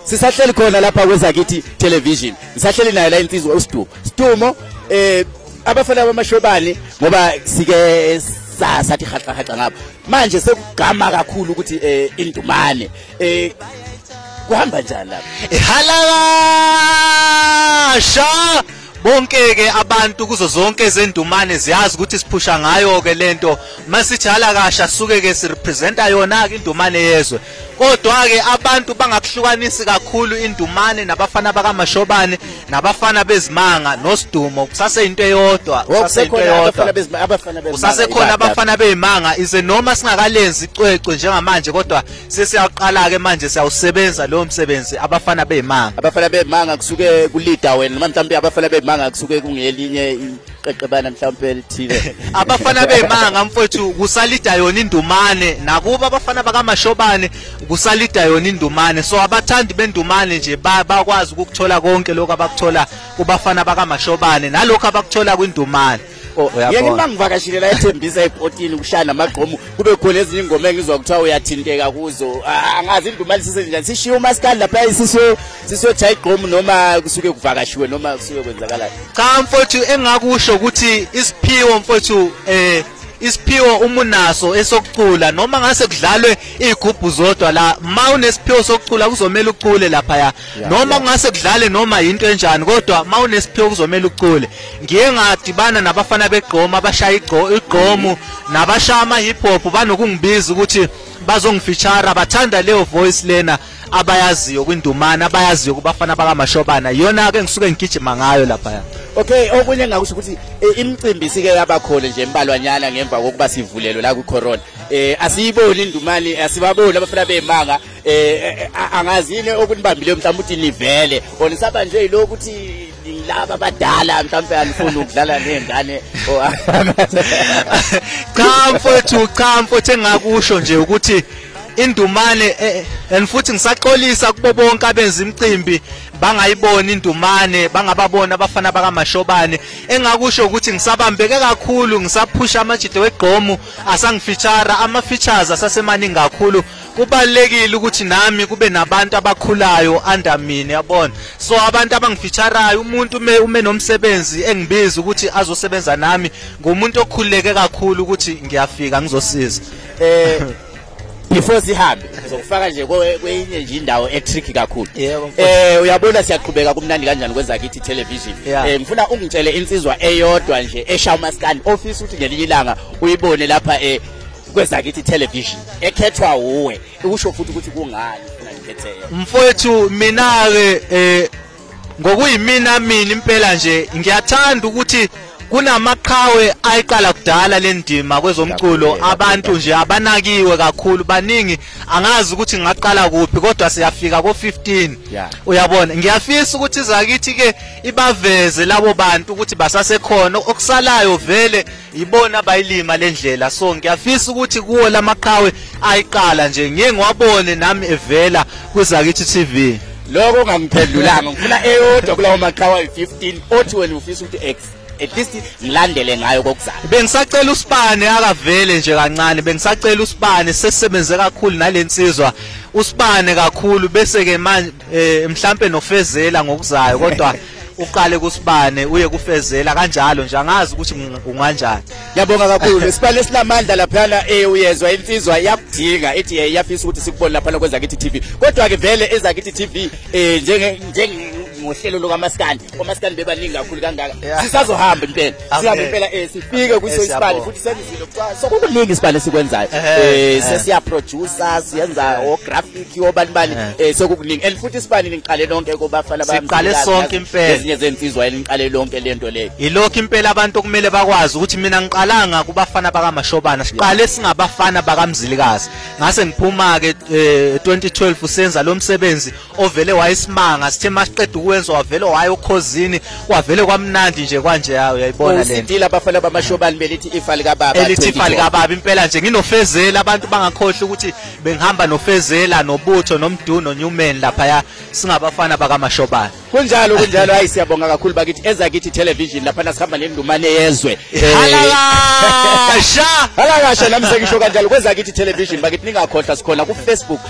sisahleli khona lapha kwezakithi television ngisahleli nayo la insizwa uSdumo Stumo eh abafana bamashobani ngoba sike sathi haxa haxa ngapha manje sekugama kakhulu ukuthi eh indumane eh kuhamba njani lapha ihalakasha bonke-ke abantu kuzo zonke ezendumane ziyazi ukuthi siphusha ngayo-ke le nto masithi halakasha suke-ke sirepresenta yona-ke indumane yezwe kodwa-ke abantu bangakuhlukanisi kakhulu indumane nabafana bakamashobane nabafana bezimanga nosidumo kusaseyinto eyodwa kusasekhona abafana beyimanga ize noma singakalenzi icwecwe njengamanje kodwa sesiyaqala ke manje siyawusebenza lowo msebenzi abafana bezimanga abafana bezimanga kusuke kulida wena noma mhlawumbe abafana bezimanga kusuke kungelinye iqeqebana mhlawumbe elithile abafana bezimanga mfowethu kusalida yona indumane nakuba abafana bakamashobane kusalida yona indumane so abathandi bendumane nje bakwazi ukuthola konke lokho abakuthola kubafana bakamashobane nalokho abakuthola kwindumane Oh, yena uma ngivakashile la ethembisa epotini kushaya namagqomo kube khona ezinye ingoma engizwa kuthiwa uyathinteka kuzo ah, angazi indumali sisenjani sishiye umaskali lapha sisiyo sisiyo cha igqomo noma kusuke kuvakashiwe noma kusuke kwenzakalayo cha mfowethu engakusho ukuthi isiphiwo mfowethu eh isiphiwo uma unaso esokucula noma ngase kudlalwe igubhu zodwa la ma unesiphiwo sokucula kuzomela ucule lapha ya Yeah, noma yeah. kungase kudlale noma yinto enjani kodwa ma unesiphiwo kuzomela ucule ngiye ngadibana nabafana begqoma abashaya igqo- igqomu nabashaya ama-hip hop banokungibiza ukuthi bazongifeature bathanda leyo voice lena abayaziyo kwindumane abayaziyo kubafana bakamashobana iyona-ke engisuke ngigijima ngayo laphaya okay okunye engakusho ukuthi eh, imicimbi sike yabakhona nje embalwanyana ngemva kokuba sivulelwe la kwicorona um asiyiboni indumane asibaboni abafana beyimanga Eh, eh, eh angazi yini okunibambile mhlawumbe uthi nivele or nisaba nje yilo ukuthi laba abadala mhlawumbe anifuni ukudlala nezingane cha mfowethu cha mfowethu engakusho nje ukuthi indumane eh, and futhi ngisaxolisa kubo bonke abenza imicimbi bangayiboni indumane bangababona abafana bakamashobane engakusho ukuthi ngisabambeke kakhulu ngisaphusha amajide wegqomu asangifeature ama features asasemaningi kakhulu kubalulekile ukuthi nami kube nabantu abakhulayo under mina yabona so abantu abangifeatureayo umuntu ume ume nomsebenzi engibiza ukuthi azosebenza nami ngumuntu okhululeke kakhulu ukuthi ngiyafika ngizosiza eh before sihambe ngizokufaka nje kwenye nje indawo etricky kakhulu eh uyabona siyaqhubeka kumnandi kanjani kwenza kithi television eh ngifuna ungitshele insizwa eyodwa nje esha umaskandi ofisa ukuthi ngelinye ilanga uyibone lapha eh kwezakithi television ekhethwa uwe usho futhi ukuthi kungani ufuna ngikhetheke mfowethu mina-ke um ngokuyimina mina impela nje ngiyathanda ukuthi kunamaqhawe ayiqala kudala le ndima kwezomculo abantu nje abanakiwe kakhulu baningi angazi ukuthi ngaqala kuphi kodwa siyafika ko-15 uyabona ngiyafisa ukuthi zakithi-ke ibaveze labo bantu ukuthi basasekhona okusalayo vele yibona bayilima le ndlela so ngiyafisa ukuthi kuwo la maqhawe ayiqala nje ngiye ngiwabone nami evela kwizakithi TV lokho ungangiphendulanga ngifuna eyodwa kulawo maqhawe ayi-15 othi wena ufisa ukuthi x at least ngilandele ngayo kokuzayo bengisacela usibane akavele nje kancane bengisacela usibane sesebenze kakhulu nalensizwa usibane kakhulu bese ke manje eh, mhlambe nofezela ngokuzayo kodwa uqale kusibane uye kufezela kanjalo nje angazi ukuthi unganjani yabonga kakhulu lesibane esinamandla laphana eh uyezwa insizwa yakudinga ithi eh, iyafisa ukuthi sikubone lapha lokwenza kithi TV kodwa ke vele ezakithi TV eh njenge njenge ngohlelo lokamaskandi omaskandi bebaningi kakhulu kangaka sisazohamba impela sihambe impela eh, sifike kwiso isibani futhi senza izinto kuthiwa sokukuningi isibani esikwenzayo um eh, eh. sesiyaproducer siyenza ographic obani bani um sokukuningi and futhi isibani niqale lonke kubafana basiqale sonke impela ezinye zensizwa eliniqale lonke le nto leyo yilokhu impela abantu okumele bakwazi ukuthi mina ngiqalanga kubafana bakamashobana siqale singabafana bakamzilikazi ngase ngiphuma-ke um 2012 senza lo msebenzi ovele wayesimanga sithe masiqeda ukwenza wavele waye okhozini wavele kwamnandi nje kwanje yawo uyayibona le sidila abafana bamashobani belithi ifa lika baba elithi ifa lika baba impela nje nginofezela abantu bangakhohle ukuthi bengihamba nofezela nobutho nomdu no Newman lapha ya singabafana bakamashobani kunjalo kunjalo hayi siyabonga kakhulu bakithi eza kithi television lapha nasihamba nendumane yezwe eh, halakasha halakasha nami sengisho kanjalo kweza kithi television bakithi ningakhohlwa sikhona ku Facebook